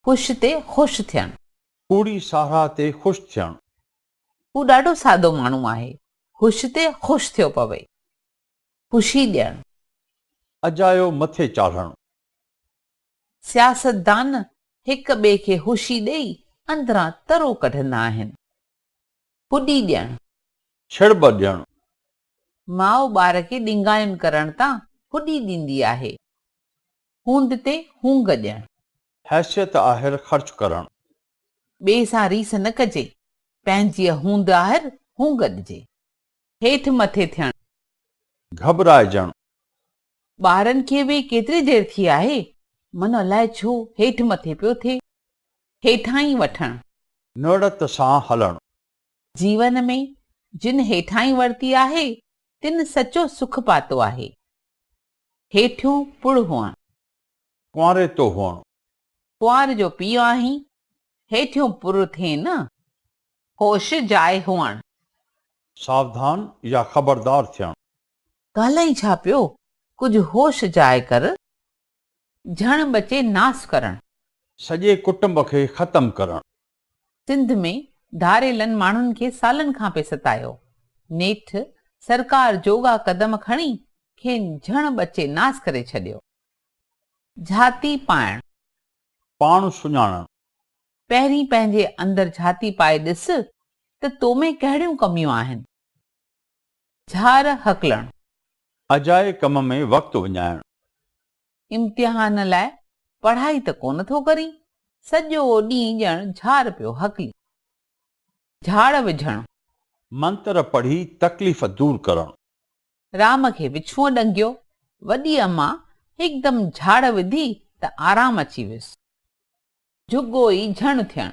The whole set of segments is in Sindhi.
خوش تي خوش ٿيڻ. ڪوڙي ساراهه تي خوش ٿيڻ. هو ڏاڍو سادو ماڻهو آهي. خوش تي خوش ٿيو پوي. خوشي ڏيڻ. اجايو مٿي چاڙهڻ. سياستدان هڪ ٻئي کي خوشي ڏئي اندران ترو ڪڍندا آهن. ڪڏي ڏيڻ. ڇڙٻ ڏيڻ. ماء ٻار کي ڏنگايون ڪرڻ تان ڪڏي ڏيندي آهي. هوند تي هونگ ڏيڻ. حيثيت آهر خرچ ڪرڻ. ٻئي سان ريس نه ڪجي. پنهنجيء هوند آهر هونگ ڏجي. هيٺ مٿي ٿيڻ. گهٻرائجڻ. ٻارن کي ويهي ڪيتري دير ٿي آهي؟ من الاء ڇو هيٺ مٿي پيو ٿئي. هيٺاهين وٺڻ. نوڙت سان هلڻ. جيون ۾، جن هيٺاهين ورتي آهي، تن سچو سک پاتو آهي. هيٺيون پڙ هئڻ. ڪنواري تو هئڻ. ڪنوار جو پيء آهين، هيٺيون پر ٿين نه، هوش جاء هئڻ. ساوڌان يا خبردار ٿيڻ. ڳالهائين ڇا پيو، ڪجهه هوش جاء ڪر، جهڻ ٻچي ناس ڪرڻ. سڄي ڪٽنب کي ختم ڪرڻ. سنڌ ۾ ڌاڙيلن ماڻهن کي سالن کان پئي ستايو. نيٺ سرڪار جوڳا قدم کڻي کين جھڻ ٻچي ناس ڪري ڇڏيو. جھاتي پائڻ. پاڻ سڃاڻڻ. پهرين پنهنجي اندر جھاتي پائي ڏس ته تو ۾ ڪهڙيون ڪميون آهن. جھار هڪلڻ. اجائي ڪم ۾ وقت وڃائڻ. امتحان لاء پڙهائي ته ڪونه ٿو ڪرين، سڄو ڏينهن ڄڻ جھار پيو هڪلين. جھاڙ وجھڻ. منتر پڙهي تڪليف دور ڪرڻ. رام کي وڇونء ڏنگيو. وڏي اما هڪدم جھاڙ وڌي ته آرام اچي ويس. جھڳو ئي جھڻ ٿيڻ.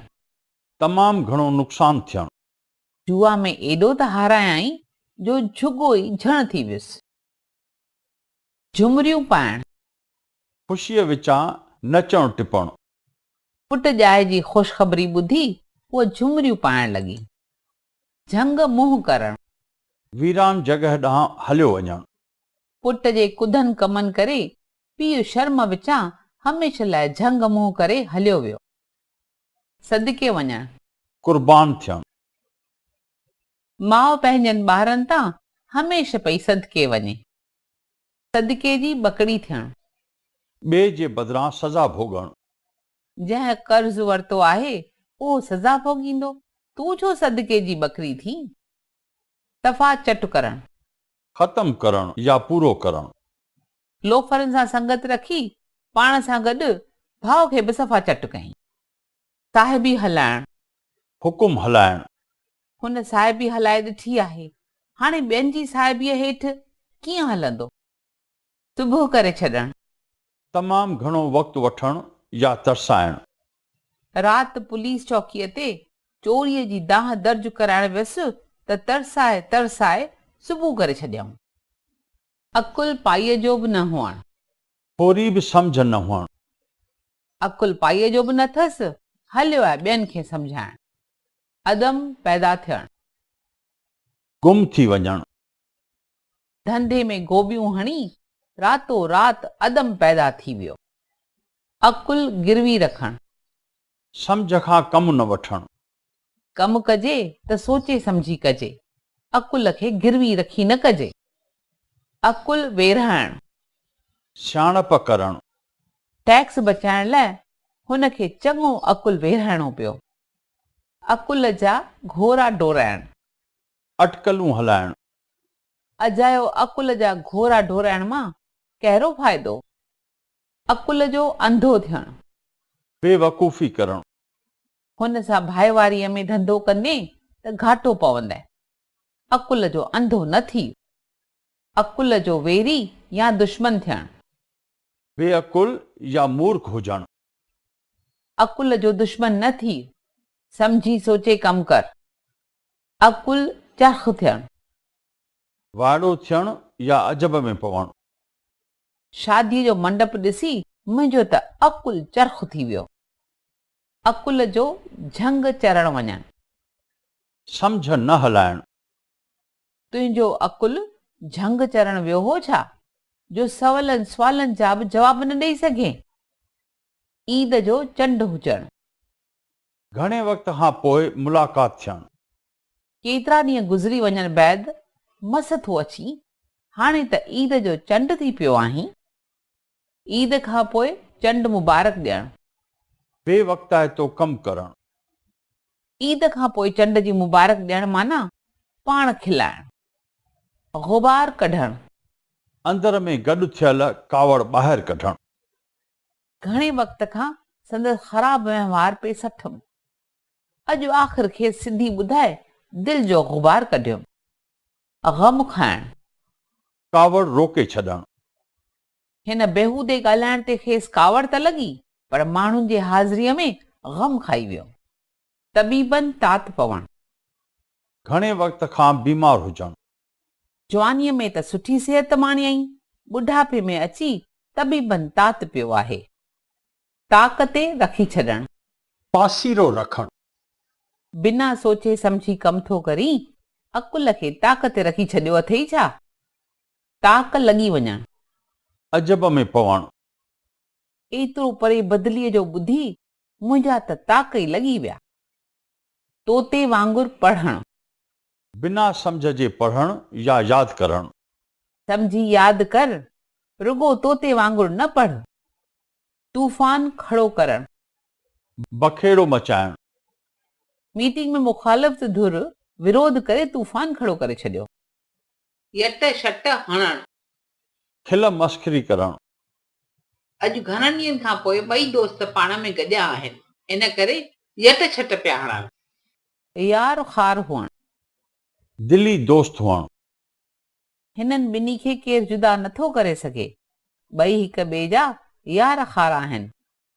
تمام گھڻو نقصان ٿيڻ. جوا ۾ ايڏو ته هارايائين جو جھڳو ئي جھڻ ٿي ويس. جهمريون پائڻ. خوشيء وچان نچڻ ٽپڻ. پٽ ڄائي جي خوشخبري ٻڌي، هوء جهمريون پائڻ لڳي. جهنگ منهن ڪرڻ. ويران جڳهه ڏانهن هليو وڃڻ. پٽ جي ڪڌن ڪمن ڪري، پيء شرم وچان هميشه لاء جهنگ منهن ڪري هليو ويو. صدقي وڃڻ. قربان ٿيڻ. ماء پنهنجن ٻارن تان هميشھ پئي صدقي وڃي. صدقي جي ٻڪڙي ٿيڻ. ٻئي جي بدران سزا ڀوڳڻ. جنهن قرض ورتو آهي، اهو سزا ڀوڳيندو، تون ڇو صدقي جي ٻڪري ٿين؟ صفا چٽ ڪرڻ. ختم ڪرڻ يا پورو ڪرڻ. لوفرن سان سنگت رکي، پاڻ سان گڏ ڀاء کي به صفا چٽ ڪيائين. صاحبي هلائڻ. حڪم هلائڻ. هن صاحبي هلائي ڏٺي آهي، هاڻي ٻين جي صاحبيء هيٺ ڪيئن هلندو؟ تبهه ڪري ڇڏڻ. تمام گهڻو وقت وٺڻ يا ترسائڻ. رات پوليس چوڪيء تي چوريء جي دانهن درج ڪرائڻ ويس ته ترسائي ترسائي صبح ڪري ڇڏيائون. عقل پائيء جو به نه هئڻ. ٿوري به سمجهه نه هئڻ. عقل پائيء جو به نه ٿس. هليو آهي ٻين کي سمجهائڻ. عدم پيدا ٿيڻ. گم ٿي وڃڻ. ڌنڌي ۾ گوٻيون هڻي. راتو رات عدم پيدا ٿي ويو. عقل گروي رکڻ. سمجهه کان ڪم نه وٺڻ. ڪم ڪجي ته سوچي سمجهي ڪجي. عقل کي گروي رکي نه ڪجي. عقل ويرهائڻ. سياڻپ ڪرڻ. ٽيڪس بچائڻ لاء هن کي چڱو عقل ويرهائڻو پيو. عقل جا گهوڙا ڊورائڻ. اٽڪلون هلائڻ. اجايو عقل جا گهوڙا ڊورائڻ مان ڪهڙو فائدو؟ عقل جو انڌو ٿيڻ. بي وقوفي ڪرڻ. هن سان ڀائيواريء ۾ ڌنڌو ڪندين ته گهاٽو پوندين. عقل جو انڌو نه ٿي. عقل جو ويري يا دشمن ٿيڻ. بي عقل يا مورک هجڻ. عقل جو دشمن نه ٿي. سمجهي سوچي ڪم ڪر. عقل چرخ ٿيڻ. وائڙو ٿيڻ يا عجب ۾ پوڻ. شاديء جو منڊپ ڏسي منهنجو ته عقل چرخ ٿي ويو. عقل جو جهنگ چرڻ وڃڻ. سمجهه نه هلائڻ. تنهنجو عقل جهنگ چرڻ ويو هو ڇا، جو سولن سوالن جا به جواب نه ڏئي سگهين. عيد جو چنڊ هجڻ. گهڻي وقت کان پوء ملاقات ٿيڻ. ڪيترا ڏينهن گذري وڃڻ بعد مس ٿو اچين، هاڻي ته عيد جو چنڊ ٿي پيو آهين. عيد کان پوء چنڊ مبارڪ ڏيڻ. بي وقتائتو ڪم ڪرڻ. عيد کان پوء چنڊ جي مبارڪ ڏيڻ معنيٰ پاڻ کلائڻ. غبار ڪڍڻ. اندر ۾ گڏ ٿيل ڪاوڙ ٻاهر ڪڍڻ. گهڻي وقت کان سندس خراب وهنوار پئي سٺم. اڄ آخر کيس سڌي ٻڌائي دل جو غبار ڪڍيم. غم کائڻ. ڪاوڙ روڪي ڇڏڻ. هن بيهودي ڳالهائڻ تي کيس ڪاوڙ ته لڳي پر ماڻهن جي حاضريء ۾ غم کائي ويم. طبيبن تات پوڻ. گهڻي وقت کان بيمار هجڻ. جوانيء ۾ ته سٺي صحت ماڻيائين، ٻڍاپي ۾ اچي طبيبن تات پيو آهي. طاق تي رکي ڇڏڻ. پاسيرو رکڻ. بنا سوچي سمجهي ڪم ٿو ڪرين، عقل کي طاق تي رکي ڇڏيو اٿئي ڇا؟ طاق لڳي وڃڻ. عجب ۾ پوڻ. ايترو پري بدليء جو ٻڌي منهنجا ته تاڪ ئي لڳي ويا طوطي وانگر پڙهڻ. بنا سمجهه جي پڙهڻ يا ياد ڪرڻ. سمجهي ياد ڪر، رڳو طوطي وانگر نه پڙهه. طوفان کڙو ڪرڻ. بکيڙو مچائڻ. ميٽنگ ۾ مخالفت ڌر ورود ڪري طوفان کڙو ڪري ڇڏيو. يٽ شٽ هڻڻ. کل مسخري ڪرڻ. اڄ گهڻن ڏينهن کان پوء ٻئي دوست پاڻ ۾ گڏيا آهن، ان ڪري يٽ شٽ پيا هڻن. يار خار هئڻ. دلي دوست هئڻ. هنن ٻنهي کي ڪير جدا نٿو ڪري سگهي. ٻئي هڪ ٻئي جا يار خار آهن.